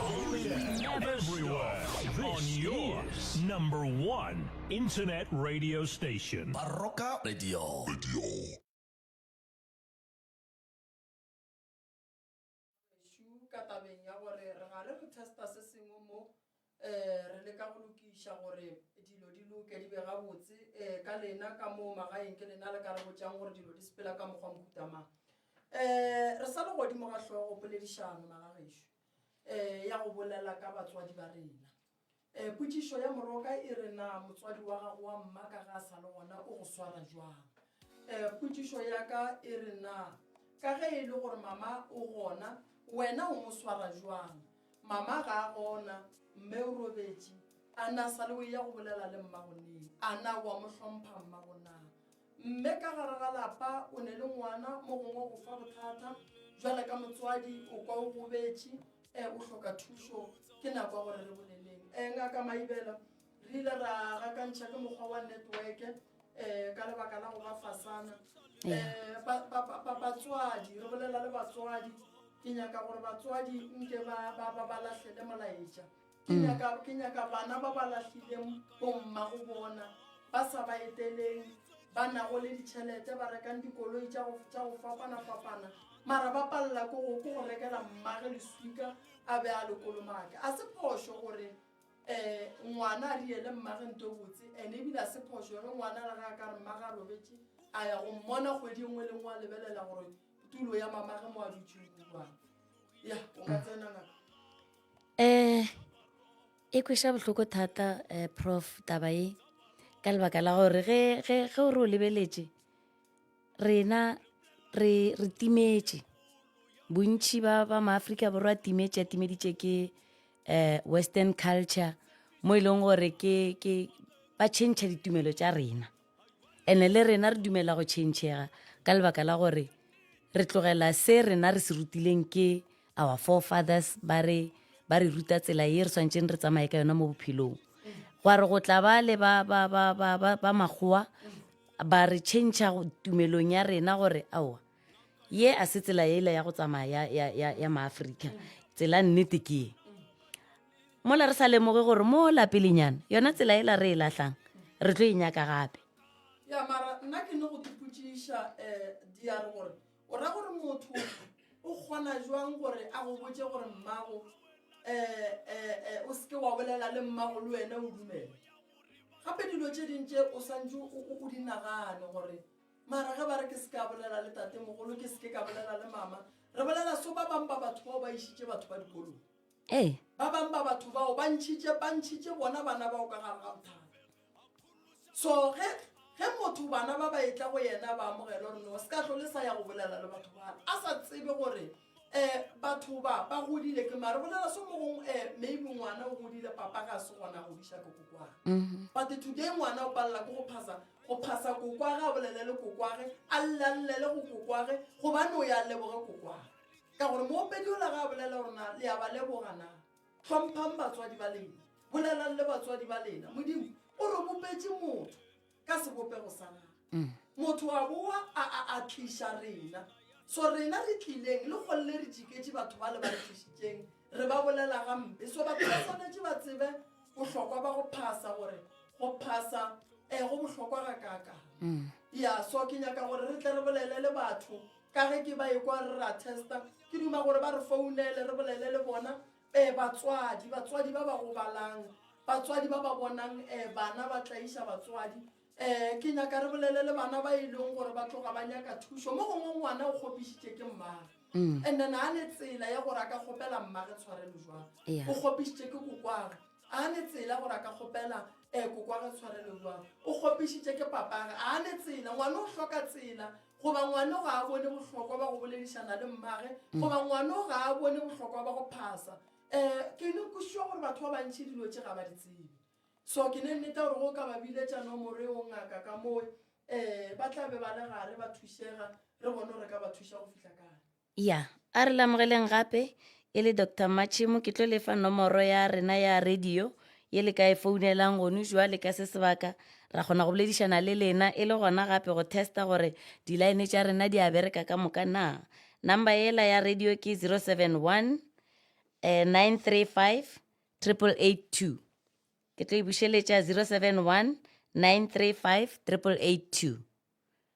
Only never stop. This is number one internet radio station. Baroka Radio. Radio. ka tabeng ya gore re gare re testa se sengwe mo um re leka go lokiša gore dilo di loke di be gabotse um ka lena ka moo magaeng ke lena le ka re botšang gore dilo di sepela ka mokgwa mohutamang um re sa le godimo ga tlhogo poledišano magagešo Ee, ya go bolela ka batswadi ba rena. Ee, potšišo ya moroka e re na motswadi wa gago wa mmaka ga a sa le gona o go swara jwang. Ee, potšišo ya ka e re na ka ge e le gore mama o gona, wena o mo swara jwang. Mama ga a gona, mme o robetše, a na sa le o eya go bolela le mmago neng? A na o a mo hlompha mmago na? Mme ka gare ga lapa o ne le ngwana, mo gongwe o go fa bothata. Bjale ka motswadi o kwa o gobetše, ee, o hloka thušo. Ke nako ya gore re boleleng. Ee, Ngaka Maibela, re ile ra gakantšha ke mokgwa wa netweke, ee, ka lebaka la go ba fasana. Ee, ba, ba, ba, ba, batswadi, re bolela le batswadi. Ke nyaka gore batswadi nke ba, ba, ba, ba lahlele molaetša. ke mm. nyaka ke nyaka bana ba ba lahlileng bomma go bona ba sa ba eteleng ba nago le ditšhelete ba rekang dikoloi tša go fapana-fapana mara ba palela ko go go rekela mmage leswika a be a lekolomake a se phošo gore um ngwana a riele mmage nto botse and ebile a se phošo gore ngwana le ga a ka re mmage a robetse a ya go mmona kgwedi e nngwe le nngwe a lebelela gore tulo ya mama ge mo a dutše kua ya o ka tsena ngaka um e kweša bohloko thata um prof taba e ka lebaka la gore ge ge ge o re o lebeletše rena re re timetše bontšhi ba ba maaforika borwa a timetše a timeditše ke um western culture mo e leng gore ke ke ba tšhentšha ditumelo tša rena ene le rena re dumela go tšhentšhega ka lebaka la gore re tlogela se rena re se rutileng ke our forefathers ba re ba re ruta tsela ye re tshwanetseng re tsamaye ka yona mo bophelong gwa re go tla ba le ba, ba, ba, ba, ba, ba makgowa ba re tšhentšha tumelong ya rena gore aowa ye a se tsela ele ya go tsamaya ya, ya, ya, ya maaforika tsela nnete ke ye mola re sa lemoge gore mo lapelenyana yona tsela e la re e lahlang re tlo e nyaka gape ya mara nna ke ne go dipotšiša um eh, diare gore o ra gore motho o kgona jwang gore a go botse gore mmago um eh, eh, eh, o seke wa bolela le mmago le wena o dumele gape dilo tše dintše o swantse o di nagane gore mara ge ba re ke se ka bolela le tate mogolo ke seke ka bolela le mama re bolela so ba bangwe ba batho bao ba išitše batho ba dikolong Ee. Ba bang ba batho bao ba ntšhitše, ba ntšhitše bona bana bao ka gare ga mothaka. So, ge, ge motho bana ba ba etla go yena ba amogela gore no se ka hlole sa ya go bolela le batho ba, a sa tsebe gore eh, batho ba, ba godile ke mare bolela so mogong eh, maybe ngwana o godile papa ga se gona go diša ke kokwa. Mm-hmm. But today ngwana o palela ke go phasa, go phasa kokwa ga a bolele le kokwage, a llalle le go kokwage, gobane o ya leboge kokwage. ka gore moopedi ola ga a bolela gore na le a ba leboga na tlhomphang batswadi ba lena bolelang le batswadi ba lena modimo o re bopetse motho ka sebopego sa gago mm. motho wa boa a tliša rena so rena re tlileng le kgolole re jiketse batho ba le ba tlišitseng re ba bolela gampe so batho ba tshwanetse ba tsebe bohlokwa ba go phasa gore go phasa um go bohlokwa ga kaka mm. ya so ke nyaka gore re tle re bolele le batho ka ge ke ba ekwa re ra testa ke duma gore ba re founele re bolele le bona um batswadi batswadi ba ba gobalang batswadi ba ba bonang um bana ba tlaiša batswadi um ke nyaka re bolele le bana ba e leng gore ba tloga ba nyaka thušo mo gongwe ngwana o kgopišitše ke mmage mm. and then a ne tsela ya gore a ka kgopela mmage tshwarelo jwang o kgopišitše ke kokwage a ne tsela gore a ka kgopela um kokwage tshwarelo jwang o kgopišitše ke papage a ne tsela ngwana o hloka tsela goba ngwano ga a bone bohlokwa ba go boledišana le mmage mm. goba ngwano ga a bone bohlokwa ba go phasa um ke ne kosiwa gore batho ba bantšhi dilo tše ga ba di tsebe so ke ne nneta gore go ka ba bile tša nomore o ngaka ka moe um ba tla be ba le gare ba thušega re bone gore ka ba thuša go fitlha kae Ya, a re lamogeleng gape, e le Doctor Matšhemo, ke tlo le fa nomoro ya rena ya radio, ye le ka e founelang gonu jwale ka se sebaka, ra kgona go boledišana le lena, e le gona gape go testa gore di-line tša rena di a bereka ka moka na. Number yela ya radio ke 071 935 8882. Ke tlo e bušeletša, 071 935 8882.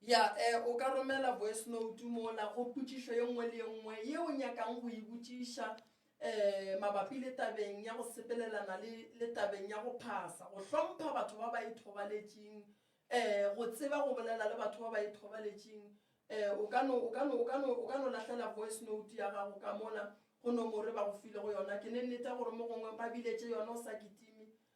Ya, e, o ka romela voice-note mola go potšišo ye nngwe le ye nngwe ye o nyakang go e botšiša um mabapi le tabeng ya go sepelelana le, le tabeng ya go phasa, go hlompha batho ba ba ithobaletšing, um go tseba go bolela le batho ba ba ithobaletšing. Um o ka no, o ka no, o ka no, o ka no lahlela voice-note ya gago ka mola go nomoro e ba go filego yona. Ke ne nnete gore mo gongwe ba biletše yona o sa kitime,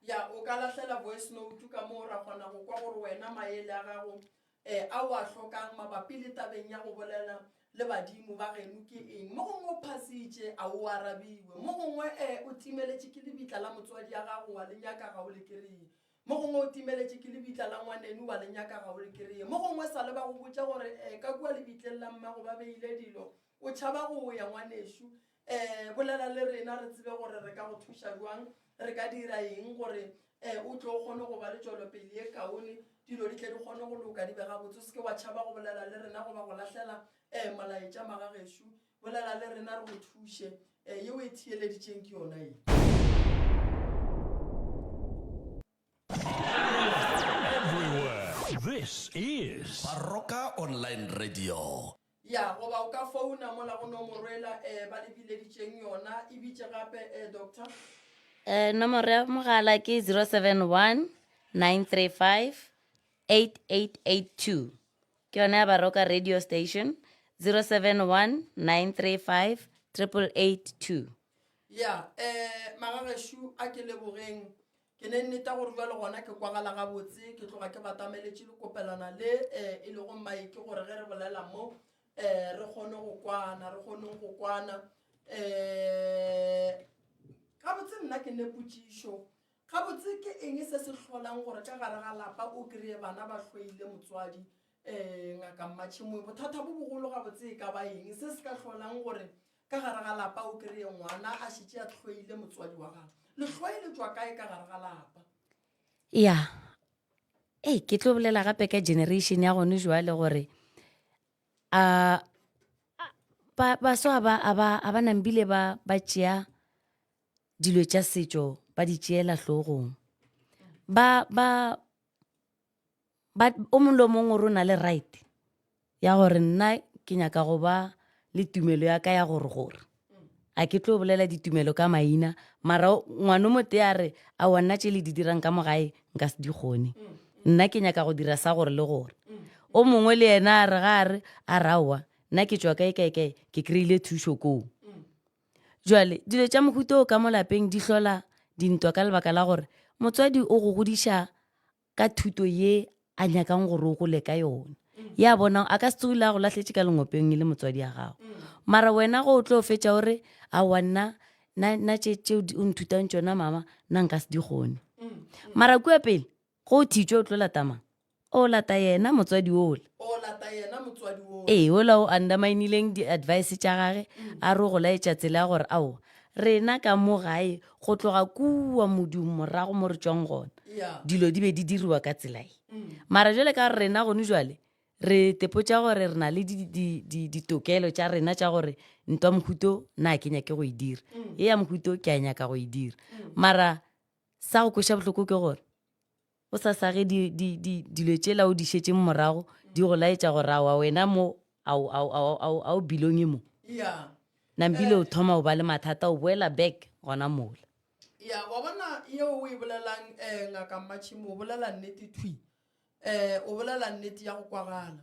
Ya, o ka lahlela voice-note ka moo ra kgona go kwa gore wena maele a gago um a o a hlokang mabapi le tabeng ya go bolela le badimo ba geno ke eng. Mo gongwe o phasitše, a o arabiwe. Mo gongwe um o timeletše ke lebitla la motswadi ya gago, wa le nyaka, ga o le kreye. Mo gongwe o timeletše ke lebitla la ngwanenu, wa le nyaka, ga o le kreye. Mo gongwe e sa le ba go botša gore um ka kua lebitleng la mmago ba beile dilo, o tšhaba go ya ngwanešu. um bolela le rena re tsebe gore re ka go thuša bjang re ka dira eng gore um o tlo o kgone go ba le tšwelopele ye kaone dilo di tle di kgone go loka di be gabotse o seke wa tšhaba go bolela le rena goba go lahlela um molaetša magagešo bolela le rena re go thuše um yeo e theeleditšeng ke yona e Baroka Online Radio. Ya, goba o ka founa mola go nomoro ela eh, ba le bileditšeng yona. E bitše gape eh, Doctor. Eh, nomoro ya mogala ke 0719358882. Ke yona ya Baroka Radio Station, 0719358882. Ya, eh, Magageshu a ke lebogeng. Ke ne nneta gore bjalo gona ke kwagala gabotse, ke tloga ke batameletše lekopelwana le eh, e lego maiki gore ge re bolela mo eh, re kgone go kwana, re kgoneng go kwana. Eh, gabotse nna ke ne potšišo gabotse ke eng se se hlolang gore ka gare ga lapa o kry-e bana ba hloile motswadi Ee, Ngaka Mmatšhemoe, bothata bo bogolo gabotse e ka ba eng se se ka hlolang gore ka gare ga lapa o kreye ngwana a šetše a tlhoile motswadi wa gago? Lehloe le tswa kae ka gare ga lapa? ya ee ke tlo bolela gape ka generation ya gone jwale gore a ba- baso a ba- a ba- a ba nambile ba ba tšea dilo tša setšo ba di tšeela hlogong ba ba But o mong le o mong o re o na le right ya gore nna ke nyaka go ba le tumelo ya ka ya gore gore a ke tlo bolela ditumelo ka maina mara ngwano mo te a re a wa nna tše le di dirang ka mogae nka se di kgone nna ke nyaka go dira sa gore le gore o mongwe le yena a re ga a re a rawa nna ke tswa kae kae kae ke kry-ile thušo koo jale dilo tša mohuto o ka mo lapeng di hlola dintwa ka lebaka la gore motswadi o go godiša ka thuto ye a nyakang gore o gole ka yona ya bona a ka se tsogile a go lahletše ka lengopeng e le motswadi ya gago mara wena go o tlo fetša o re a wa nna na tše tšeo o nthutang tšona mama nna nka se di kgone mara kua pele go o thitšwe o tlo latamang o lata yena motswadi ola ee ola o underminileng di-advice tša gage a re o go laetša tsela ya gore ao rena ka mo gae go tloga kua modung morago mo re tšwang gona dilo di be di diriwa ka tselae mara jale ka rena gone jale re tepotša gore re na le ditokelo tša rena tša gore ntwa mohuto na ke nyake go e dira e ya mohuto ke a nyaka go e dira mara sa go kweša bohloko ke gore o sa sage di, di, di, dilo tšela o di šetšeng morago di go laetša gore awa wena mo a o bilonge mo nambile o thoma o ba le mathata o boela back gona mola ya wa bona yeo o e bolelang um eh, ngaka mmatšhimo o bolela nnete thwi um o bolela nnete ya go kwagala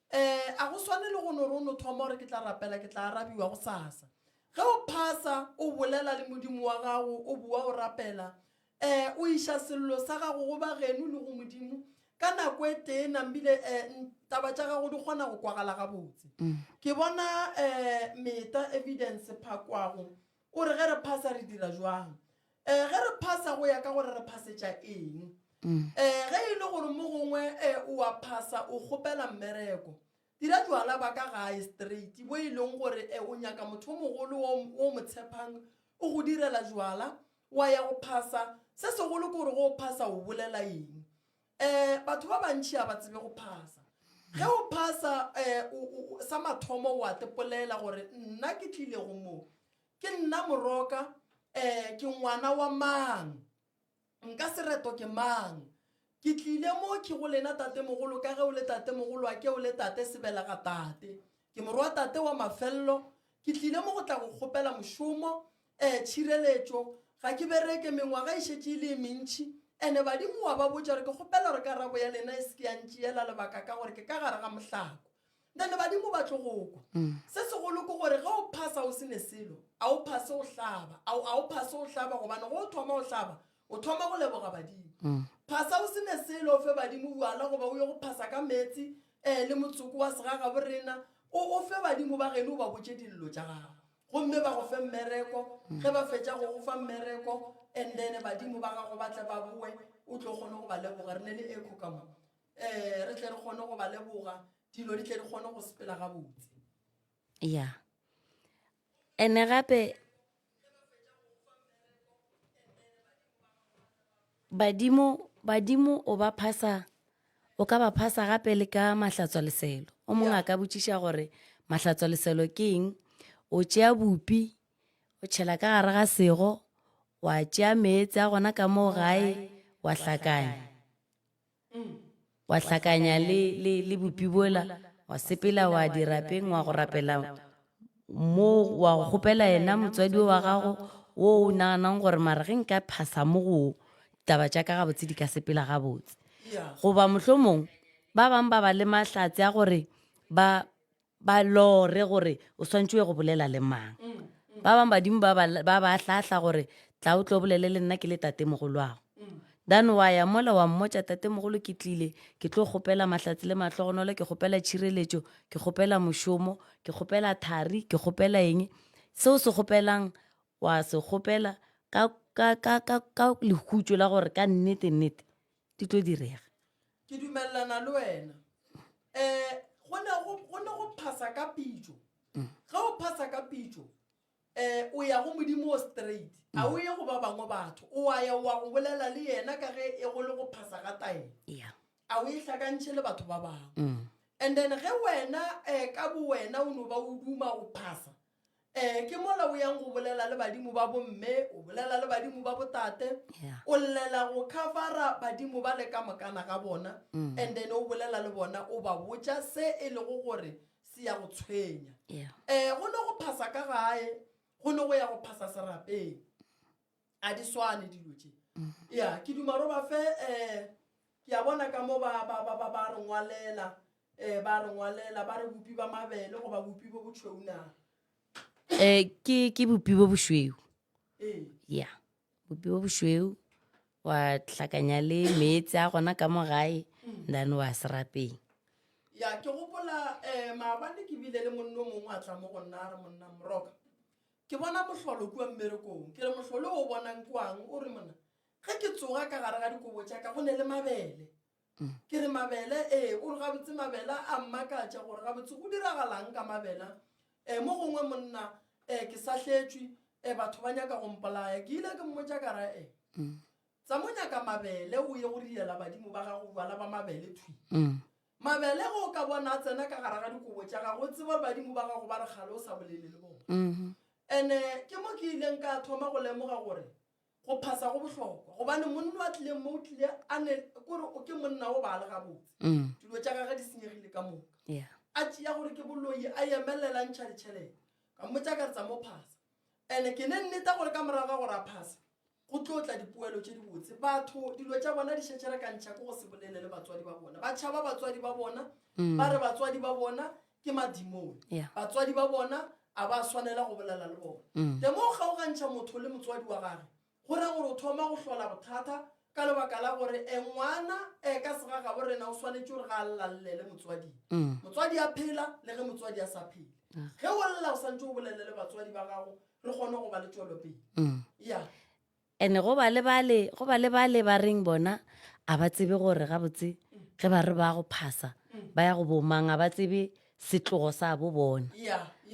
Ee, a go swane le go no re o no thoma gore ke tla rapela ke tla arabiwa go sasa. Ge o phasa, o bolela le Modimo wa gago, o boa o rapela. Ee, o iša sello sa gago go bageno le go Modimo ka nako e tee nambile ee, n, taba tša gago di kgona go kwagala gabotse. Ke bona ee, Meta Evidence Phakwago o re ge re phasa re dira bjang. um ge re phasa go ya ka gore re phasetša eng um ge e le gore mo gongwe um o a phasa o kgopela mmereko dira jwala ba ka gae straight bo e leng gore um o nyaka motho o mogolo o mo tshepang o go direla jwala wa ya go phasa se segolo ke gore go o phasa o bolela eng um batho ba bantšhi a ba tsebe go phasa ge o phasa um sa mathomo wa tepolela gore nna ke tlile go moo Ke nna moroka, ee, ke ngwana wa mang? Nka se reto ke mang? Ke tlile mo ke go lena tatemogolo ka ge o le tatemogolo a ke o le tate sebela ga tate. Ke morwa tate wa mafello, ke tlile mo go tla go kgopela mošomo, ee, tšhireletšo. Ga ke bereke, mengwaga e šetše e le e mentši. Ene badimo wa ba botša gore ke kgopela gore karabo ya lena e se ke ya ntšeela lebaka ka gore ke ka gare ga mohlako. na le badimo ba tlo go kwa se segolo ke gore ge o phasa o se ne selo a o phase o hlaba a o- a o phase o hlaba gobane go o thoma o hlaba o thoma go leboga badimo phasa o se ne selo o fe badimo bjala goba o ye go phasa ka meetse um le motsoko wa segaga bo rena o o fe badimo ba geno o ba botse dillo tša gago gomme ba go fe mmereko ge ba fetša go go fa mmereko and then badimo ba gago ba tle ba boe o tlo kgone go ba leboga re ne le eco ka mo um re tle re kgone go ba leboga dilo di tle di kgone go sepela gabotse ya ene gape badimo badimo o ba phasa o ka ba phasa gape le ka mahlatswa leselo o mongwe a ka botšiša gore mahlatswa leselo ke eng o tšea bupi o tšhela ka gare ga sego wa tšea meetse a gona ka moo gae wa hlakanya wa hlakanya le, le, le bupi bola, wa sepela, wa di rapeng, wa go rapela mo, wa go kgopela yena motswadi o wa gago wo o naganang gore mara ge nka phasa mo go taba tša ka gabotse di ka sepela gabotse. Goba mohlomong ba bang ba ba le mahlatse a gore ba, ba lore gore o swantse o go bolela le mang ba bangwe badimo ba ba hlahla gore tla o tlo bolele le nna ke le tate mogolwago then wa ya mola wa mmotša tate mogolo ke tlile ke tlo kgopela mahlatsi le mahlogonolo ke kgopela tšhireletšo ke kgopela mošomo ke kgopela thari ke kgopela eng seo se kgopelang wa se kgopela ka ka ka ka ka lehutšo la gore ka nnete nnete di tlo direga ke dumelelana le wena um go ne go- go ne go phasa ka pitso Mm. ge o phasa ka pitso um o ya go modimo o straight Mm. a o ye go ba bangwe batho o a ya wa go bolela le yena ka ge e go le go phasa ga taelo ya a o e hlakantšhe le batho ba bangwe Mm. and then ge wena um ka bo wena o no ba o duma o phasa Ee, ke mola o yang go bolela le badimo ba bomme o bolela le badimo ba botate Yeah. o llela go covera badimo ba le ka mokana ga bona Mm. and then o bolela le bona o ba botša se e lego gore se ya go tshwenya Yeah. um go ne go phasa ka gae go ne go ya go phasa serapeng ga di swane dilo tše ya ke dumaro ba fe um ke ya bona ka mo ba ba- ba- ba- ba re ngwalela um ba re ngwalela ba re bopi ba mabele goba bopi bo botšhounaga um ke ke bopi bo bošweu ee ya bopi bo bošweu wa tlhakanya le meetse a gona ka mo gae then wa serapeng ya ke gopola um maabane ke bile le monno mongwe a tla mo go nna a re monna moroka Ke bona mohlolo kua mmerekong. Ke re, Mohlolo o o bonang kuang? O re, Monna, ge ke tsoga ka gare ga dikobo tša ka go ne le mabele. Ke re, Mabele? Ee. O re, Gabotse mabele a mmakatša gore gabotse go diragalang ka mabele a. Mo gongwe, monna, ke sahletšwe, batho ba nyaka go mpolaya. Ke ile ke mmotša ka ra, Tsamonyaka mabele o ye go riela badimo ba gago bjala ba mabele thwi. Mabele ge o ka bona a tsena ka gare ga dikobo tša gago, o tseba gore badimo ba gago ba re kgale o sa bolele le bona. Mm-hmm. Ene ke mo ke ileng ka thoma go lemoga gore go phasa go bohlokwa gobane monna wa tlileng mo o tlile a ne kore o ke monna o ba le gabotse mm. dilo tša gage di senyegile ka moka a tšea gore ke boloi a emelela ntšha ditšhelete ka mmotsa ka re tsa mo phasa and-e ke ne nneta gore ka morago ga gore a phasa Go tlo tla dipoelo tše dibotse. Batho dilo tša bona di šetše re ka ntšha ke go se bolele le batswadi ba bona. Ba tšhaba batswadi ba bona, mm. ba re batswadi ba bona ke madimone. Yeah. Batswadi ba bona a ba swanela go bolela le bona. Mm. Temo o kgaogantšha motho le motswadi wa gage. Go ra gore o thoma go hlola bothata ka lebaka la gore e ngwana e ka sega ga borena o swanetše gore ga a llalle le motswadi mm. motswadi a phela le ge motswadi a sa phele ge o lla o santse o bolele le batswadi ba gago re kgone go ba le tšwelopele mm. yeah. and go ba le bale go ba le bale ba reng bona a ba tsebe gore gabotse ge ba re ba go phasa ba ya go bomang a ba tsebe setlogo sa bo bona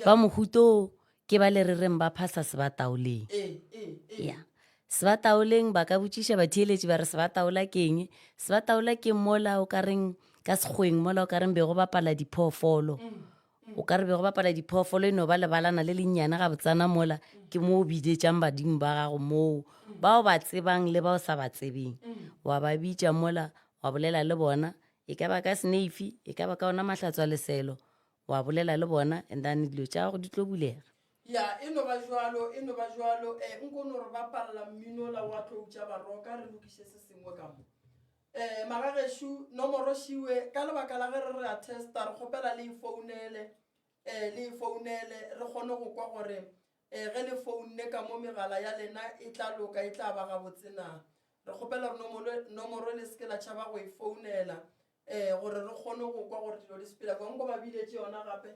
ba mohuto ke ba le re reng ba phasa se ba taoleng ya eh, eh, eh. yeah. se ba taoleng ba ka botšiša batheeletši ba re se ba taola keng se ba taola keng mola o ka reng ka sekgweng mola o ka reng be go bapala diphoofolo mm. o ka re bego bapala diphoofolo e no ba lebalana le lennyane ga botsana mola ke mo o bidetšang badimo ba gago moo bao ba tsebang le bao sa ba tsebeng wa ba bitša mola wa bolela le bona e ka ba ka seneifi e ka ba ka ona mahlatswa leselo wa bolela le bona and then dilo tša gago di tlo bulega ya e no ba jalo e no ba jalo um eh, nkono re bapalela mminola wa tloutša baroka re lokiše se sengwe ka mo Ee, magagešo, nomoro šiwe, ka lebaka la ge re re a testa, re kgopela le e founele, ee, le e founele, re kgone go kwa gore, ee, ge le founne ka mo megala ya lena e tla loka, e tla ba gabotse na. Re kgopela gore nomoro, nomoro le se ke la tšhaba go e founela, ee, gore re kgone go kwa gore dilo di sepela bjang. Ba biletše yona gape.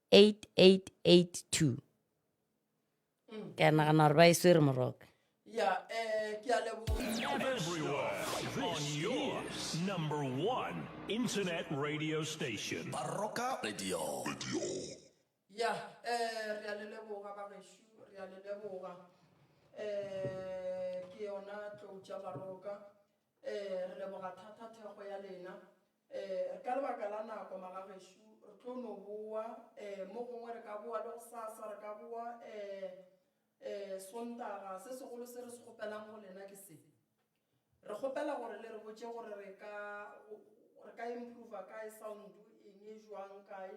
8882 ke a nagana gore ba e swere moroka ke yona tlou tša baroka um re leboga thata thekgo ya lena Ee, re ka lebaka la nako, malagešo. Re tlo no bowa. Ee, mo gongwe re ka bowa le gosasa. Re ka bowa, ee, ee, Sontaga. Se segolo se re se kgopelang go lena ke se, Re kgopela gore le re botše gore re ka, re ka improver kae sound, eng, jwang, kae.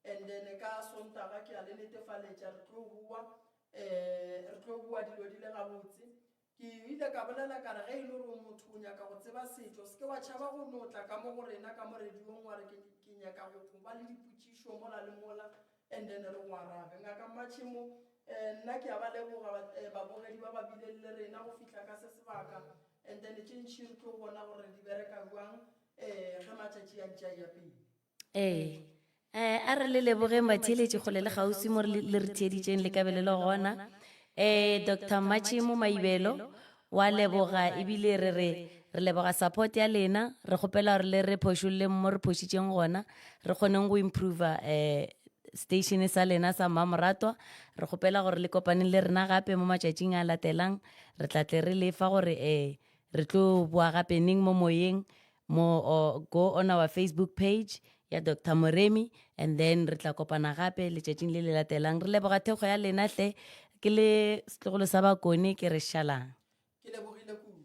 And then ka Sontaga ke a le netefaletša re tlo bowa. Ee, re tlo bowa dilo di le gabotse. Ke ile ka bolela ka re, Ge e le gore o motho, o nyaka go tseba setšo, se ke wa tšhaba go no tla ka mo go rena ka mo rediong wa re, Ke, ke nyaka go, go ba le dipotšišo mola le mola, and then re go arabe. Ngaka Matšhemo, eh, nna ke a ba leboga ba, eh, babogedi ba ba bileng le rena go fihla ka se sebaka, and then tše ntši re tlo bona gore re di bereka bjang, eh, ge matšatši a ntše a eya pele. Ee. Eh, a re le lebogeng batheeletši kgole le kgauswi mo re le re theeditšeng le kabelo le gona. Eh, Doctor Mmatšhemo Maibelo, wa leboga ebile re re re leboga support ya lena, re kgopela gore le re phošolleng mo re phošitšeng gona, re kgoneng go improver eh station sa lena sa Mmamoratwa. Re kgopela gore le kopaneng le rena gape mo matšatšing a latelang, re tla tle re lefa gore eh re tlo boa gape neng mo moyeng, mo or go on our facebook page ya dr moremi and then re tla kopana gape letšatšing le le latelang re leboga thekgo ya lena hle ke le setlogolo sa bakone ke re šalang ke lebogile kudu